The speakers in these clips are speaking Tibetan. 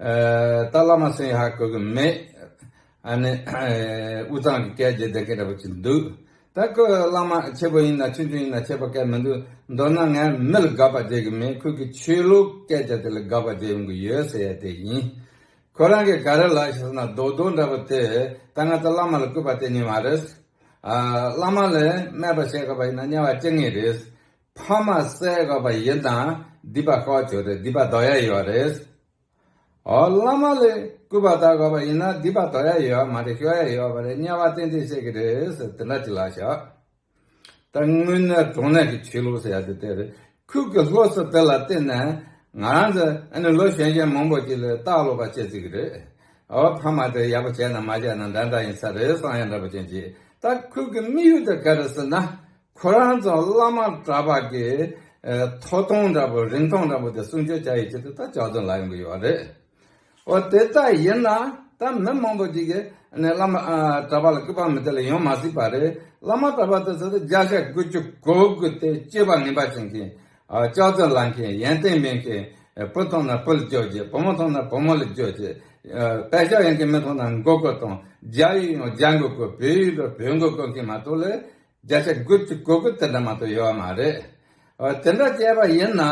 ད་བླ་མ་སེང་ཧ་གོ་གི་མེད། ཨ་ནི། དབུས་གཙང་གི་སྐད་བརྗོད་བདེ་སྐད་འདྲ་པོ་ཅིག་འདུག། ད་ཁོས་བླ་མ་ཆེ་པོ་ཡིན་ན་ཆུང་ཆུང་ཡིན་ན་ཆད་པ་བཀལ་མི་འདུག་མདོར་ན་ངས་མི་ལ་དགག་པ་བརྗོད་ཀྱི་མིན་ཁོས་ཀྱི་ཆོས་ལུགས་སྐད་ཆ་དེ་ལ་དགག་པ་བརྗོད་ཡོང་གི་ཡོད་ཟེར་ཡ་དེ་ཡིན། ཁོ་རང་གིས་ག་རེ་ལགས་ཞེས་ཟེར་ན་རྡོག་རྡོག་འདྲ་པོ་དེས་ད་ང་ཚོ་བླ་མ་ལ་བསྐུལ་པ་གཏན་ནས་མ་རེད། བླ་མ་ལས་སྨད་པ་བཤད་དགོས་པ་ཡིན་ན་དམྱལ་བ་སྐྱེ་ངེས་རེད། ཕ་མ་གསལ་དགའ་བ་ཡིན་དང་སྡིག་པ་དཀའ་བ་བྱོས་ཏེ་སྡིག་པ་དོར་ཡ་ཡོད་རེད། ཨོ་བླ་མ་ལས་སྐུལ་བ་དག་དགའ་བ་ཡིན་ན་སྡིག་པ་དོར་ཡ་ཡོད་མ་རེད་ཤོར་ཡ་ཡོད་བ་རེད་དམྱལ་བ་ཏན་ཏན་བཤད་ཀྱི་རེད་ཟེར་དེ་འདྲ་ཅིག་ལགས་ཤག། ད་དངོས་གནས་གྲོང་ནས་ཀྱི་ཆོས་ལུགས་ཟེར་ཡ་དེ་དེ་རེད་ཁུལ་གྱི་སློབ་གསོ་དེ་ལ་བརྟེན་ནས་ང་རང་ཚོ་ཨ་ནི་ལོ་གཞན་གཞན་མང་པོ་ཅིག་ལས་སྟག་ལོ་པ་བྱེད་རྩིས་ཀྱི་རེད། ཨོ་ཕ་མ་དེ་ཡག་པོ་བྱས་ན་མ་བྱས་ན་འདྲ་འདྲ་ཡིན་ས་རེད་བསམ་ཡ་འདྲ་པོ་ཅན་ཅིག་ད་ཁུལ་གྱི་དམིགས་ཡུལ་དེ་ག་རེད་ཟེར་ན་ཁོ་རང་ཚོ་བླ་མ་གྲྭ་པ་གི་ཐོ་གཏོང་འདྲ་པོ་རིན་ཐང་འདྲ་པོ་དེ་སྲུང་སྐྱོབ་བྱ་ཡི་ཆེད་དུ་ད་ལྕགས་རྫུན་ལ་ཡོང་གི་ཡོད་པ་རེད། འོ་དེ་ལྟ་ཡིན་ན་ད་མི་མང་པོ་ཅིག་གིས་བླ་མ་གྲྭ་པ་ལ་སྐུད་པ་མི་དེ་ལ་ཡོང་མ་སྲིད་པ་རེད། བླ་མ་གྲྭ་པ་དེ་ཚོ་དེ་བརྒྱ་ཆ་དགུ་བཅུ་གོ་དགུ་དེ་སྐྱེས་པ་ངན་པ་བྱེད་མཁན། ལྕགས་རྫུན་ལ་མཁན་ཡན་ཏན་མེད་མཁན། བུ་མཐོང་ན་བུ་ལ་རྗོད་བྱེད་བུ་མོ་མཐོང་ན་བུ་མོ་ལ་རྗོད་བྱེད། དཔེ་ཆ་ཡོད་མཁན་མི་མཐོང་ན་མགོ་བསྐོར་དང་རྒྱ་ཡིག་ཡང་རྒྱ་མགོ་བསྐོར་བོད་ཡིག་ཡོད་པ་བོད་མགོ་བསྐོར་མཁན་མ་གཏོགས་ལས་རྒྱ་ཆེར་དགོས་ཀྱི་དགོས་མཁོ་དེ་འདྲ་མང་དུ་ཡོད་པ་མ་རེད། དེ་འདྲ་བྱས་པ་ཡིན་ན་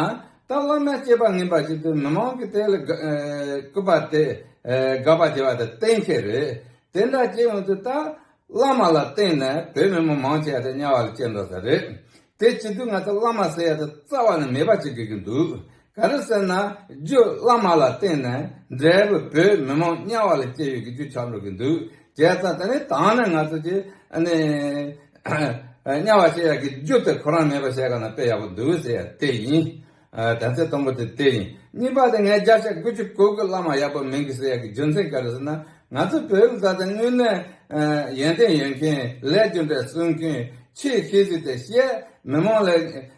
ད་བླ་མའི་སྐྱེས་པ་ངན་པ་ཞིག་ཏུ་མི་མང་གིས་དེ་ལ་སྐུར་པ་དེ་དགག་པ་བྱེད་པ་དེ་གཏན་འཁེལ་རེད། དེ་འདྲ་བྱེད་ཡོང་དུས་ད་བླ་མ་ལ་བརྟེན་ནས་བོད་མི་མང་མང་ཆེ་བ་དེ་དམྱལ་བ་ལ་སྐྱེལ་འགྲོ་ས་རེད། དེ་བྱེད་དུས་ང་ཚོ་བླ་མ་ཟེར་ཡ་དེ་རྩ་བ་ནས་མེད་པ་བྱེད་དགོས་ཀྱི་འདུག་ག་རེ་ཟེར་ན་རྒྱུད་བླ་མ་ལ་བརྟེན་ནས་འབྲས་བུ་བོད་མི་མང་དམྱལ་བ་ལ་སྐྱེལ་ཡོད་ཀྱི་རྒྱུ་ཆ་འགྲོ་གི་འདུག་རྒྱལ་ཚ་དེ་ནི་དང་ནས་ང་ཚོ་ཀྱི་དམྱལ་བ་བཤད་ཡག་གི་རྒྱུ་དེ་ཁོ་རང་མེད་པ་བཤད་ག་ན་དཔེ་ཡག་པོ་འདུག་ཟེར་ཡག་དེ་ཡིན། དམ་ཚིག་དང་པོ་དེ་དེ་ཡིན་གཉིས་པ་དེ་ངས་བརྒྱ་ཆ་དགུ་བཅུ་གོ་གི་བླ་མ་ཡག་པོ་མིན་གི་ཟེར་ཡག་གི་རྒྱུ་མཚན་ག་རེ་ཟེར་ན་ང་ཚོ་བོད་མི་ཟ་དེ་དངོས་གནས་ཡོན་ཏན་ཡོད་མཁན་ལས་རྒྱུ་འབྲས་གསུང་མཁན་ཆེས་ཤེས་གཟིགས་དེ་བཤད་མི་མང་ལས།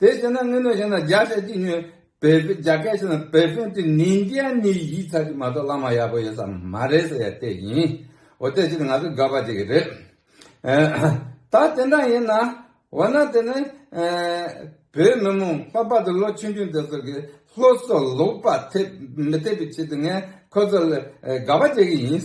དེ་བྱས་ན་དངོས་གནས་བཤད་ན་བརྒྱ་ཆ་གཅིག་ཉོན། བལ་བལ་བརྒྱ་སྐད་བཤད་ན་བལ་བོན་དེ་ནི་འདི་ཡང་ནི་ཡིག་ཚགས་ཀྱི་མ་གཏོགས་བླ་མ་ཡག་པོ་ཡོད་ས་མ་རེད་ཟེར་ཡ་དེ་ཡིན། འོ་དེ་ཕྱིར་ང་ཚོ་དགའ་བ་ཅིག་རེད། ད་དེ་འདྲ་ཡིན་ན། འོ་ན་དེ་ནི། བོད་མི་མང་ལྷག་པར་དུ་ལོ་ཆུང་ཆུང་དེ་ཚོ་གི་སློབ་གསོ་ལོག་པ་ཐེབས་མི་ཐེབས་པའི་ཆེད་དུ་ངས་ཁོ་ཚོ་ལ་དགའ་བ་བྱེད་ཀྱི་ཡིན།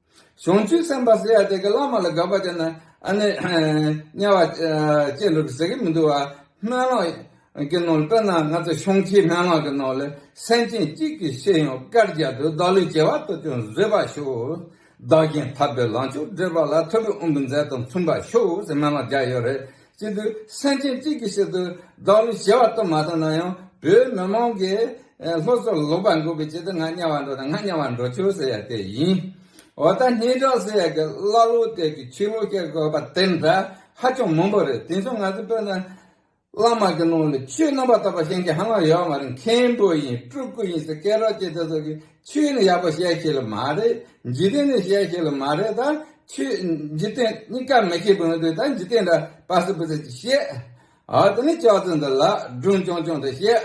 བྱུང་ཚུལ་གསན་པ་ཟེར་ཡ་དེ་ག་བླ་མ་ལ་དགག་པ་བྱས་ན་ཨ་ནི་དམྱལ་བ་ཅན་འགྲོ་གི་ཟེར་གི་མི་འདུག་བ་སྨན་ལོག་གི་ནང་དཔེར་ན་ང་ཚོ་ཤོང་ཁྱི་སྨན་ལོག་གི་ནང་ལ་སེམས་ཅན་གཅིག་གི་ཤེས་ཡོན་བཀར་རྒྱག་དུས་བདག་ལུས་བྱེ་བ་ལྟོ་ཅོག་བཟོས་པ་ཤོག་བདག་རྐྱེན་ཐབས་པའི་ལང་ཕྱོགས་བསྒྲིལ་བ་ལ་ཐོད་རུ་དབུ་འབུད་མཛད་དང་མཚུངས་པ་ཤོག་ཟེར་སྨན་ལོག་རྒྱག་ཡོད་རེད་གཅིག་ཏུ་སེམས་ཅན་གཅིག་གི་ཆེད་དུ་བདག་ལུས་བྱེ་བ་གཏོང་མ་ཐུབ་ན་ཡང་བོད་མི་མང་གི་ལྷོ་སོག་ལོག་པར་འགོག་པའི་ཆེད་དུ་ང་དམྱལ་བར་འགྲོ་དང་ང་དམྱལ་བར་འགྲོ་ཆོག་ཟེར་ཡ་དེ་ཡིན། འོ་ད་སྙན་གྲགས་ཟེར་ཡ་གི་ཀླ་ཀློ་དེ་གི་ཆོས་ལུགས་སྐྱེ་དགོས་པ་དེ་འདྲ་ཧ་ཅང་མང་པོ་རེད་དེ་མཚུངས་ང་ཚོ་བོད་ནང་བླ་མ་གི་ནང་ལ་ཆོས་རྣམ་པ་དག་པ་ཤེས་མཁན་ཧ་ལམ་ཡོད་མ་རེད་མཁན་པོ་ཡིན་སྤྲུལ་སྐུ་ཡིན་ཟེར་སྐད་གྲགས་ཀྱི་དེ་ཚོ་གི་ཆོས་ནི་ཡག་པོ་བཤད་ཤེས་ལ་མ་རེད་འཇིག་རྟེན་ནི་བཤད་ཤེས་ལ་མ་རེད་ད་ཆོས་འཇིག་རྟེན་གཉིས་ཀ་མི་ཤེས་པའི་དོན་ད་འཇིག་རྟེན་འདྲ་པ་སུ་བུ་ཟེར་གྱི་བཤད་ཨ་དེ་ནི་ཅོག་ཙེ་འདི་ལ་སྒྲུང་ཅུང་ཅུང་དེ་བཤད་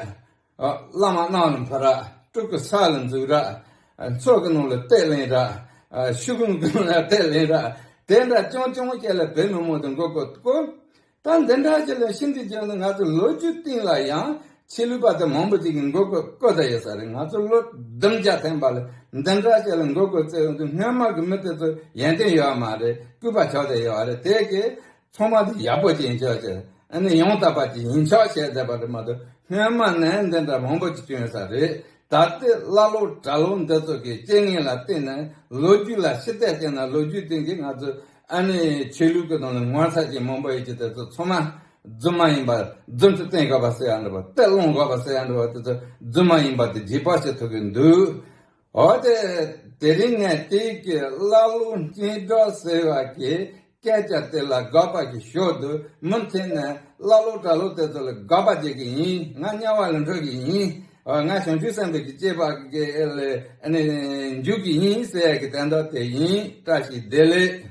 ཨ་བླ་མ་རྣམས་ལ་འཕུར་ར་སྤྲུག་གི་ས་ལ་འཛུགས་ར་མཚོ་གི་ནང་ལ་གཏད་ལེན་ར་ཤུག་གུམ་གུམ་ལ་གཏད་ལེན་ར་དེ་འདྲ་ཅུང་ཅུང་བཤད་ལ་བོད་མི་མང་དུ་འགོ་བསྐོར་དགོས་ད་འདི་འདྲ་ཞིག་ལ་ཤིན་ཏུ་གྱོན་ནས་ང་ཚོའི་ལོ་རྒྱུས་སྟེང་ལ་ཡང་ཆེས་ལུས་པ་དེ་མང་པོ་ཞིག་གིས་མགོ་སྐོར་བཀོད་ས་ཡོད་ས་རེད་ང་ཚོ་ལོ་བདུན་བརྒྱ་ཐེངས་པ་ལ་འདི་འདྲ་ཞིག་ལ་མགོ་སྐོར་བརྩེ་འོས་འདུག་སྔོན་དམག་གི་མི་དེ་ཚོ་ཡན་ཏན་ཡོད་མ་རེད་སྐུད་པ་ཆོག་ཟེར་ཡོད་རེད་དེ་གས་ཚོང་པ་འདི་ཡག་པོ་ཞིག་ཡིན་ཆོག་ཆེ་ནས་ཡང་དག་པ་ཞིག་ཡིན་ཆོག་བཤད་བསྡད་པ་རེད་མ་གཏོགས་སྔོན་དམག་ནས་འདི་འདྲ་མང་པོ་ཞིག་གྱོན་ཡོད་ས་རེད་ད་ལྟའི་ཀླ་ཀློ་གྲྭ་ལོ་འདི་ཚོ་གིས་སྤྱན་ངན་ལ་བརྟེན་ནས་ལོ་རྒྱུས་ལ་ཤི་ཐལ་བྱས་ན་ལོ་རྒྱུས་སྟེང་གི་ང་ཚོའི་ཨ་ནི་ཆོས་ལུགས་ཀྱི་ནང་ལ་ངོ་ཚ་ཅན་མང་པོ་ཡོད་ཀྱི་དེ་ཚོ་ཚང་མ་རྫུན་མ་ཡིན་པ་རྫུན་དུ་བསྟན་དགོས་པ་སོ་ཡང་འདྲ་བ་དཔེ་ལོང་དགོས་པ་སོ་ཡང་འདྲ་བ་དེ་ཚོ་རྫུན་མ་ཡིན་པ་དེ་རྗེས་དཔག་བྱེད་ཐུབ་ཀྱི་འདུག་འོ་དེ་དེ་རིང་ངས་དེ་གའི་བླ་སློབ་སྙན་གྲགས་ཟེར་བ་གྱི་སྐད་ཆ་དེ་ལ་དགག་པ་བྱེད་ཞོར་དུ་མུ་མཐུད་ནས་བླ་སློབ་གྲྭ་སློབ་དེ་ཚོ་ལ་དགག་པ་བྱེད་ཀྱི་ཡིན་ང་དམྱལ་བ་ལ་འཕྲོད་ཀྱི་ཡིན། ང་བྱང་ཆུབ་སེམས་དཔའ་ཀྱི་སྐྱེས་པ་འགའི་མཇུག་གི་ཉིན་ཞེས་ཡ་གི་དན་ད་དེ་ཡིན་བཀྲ་ཤིས་བདེ་ལེགས།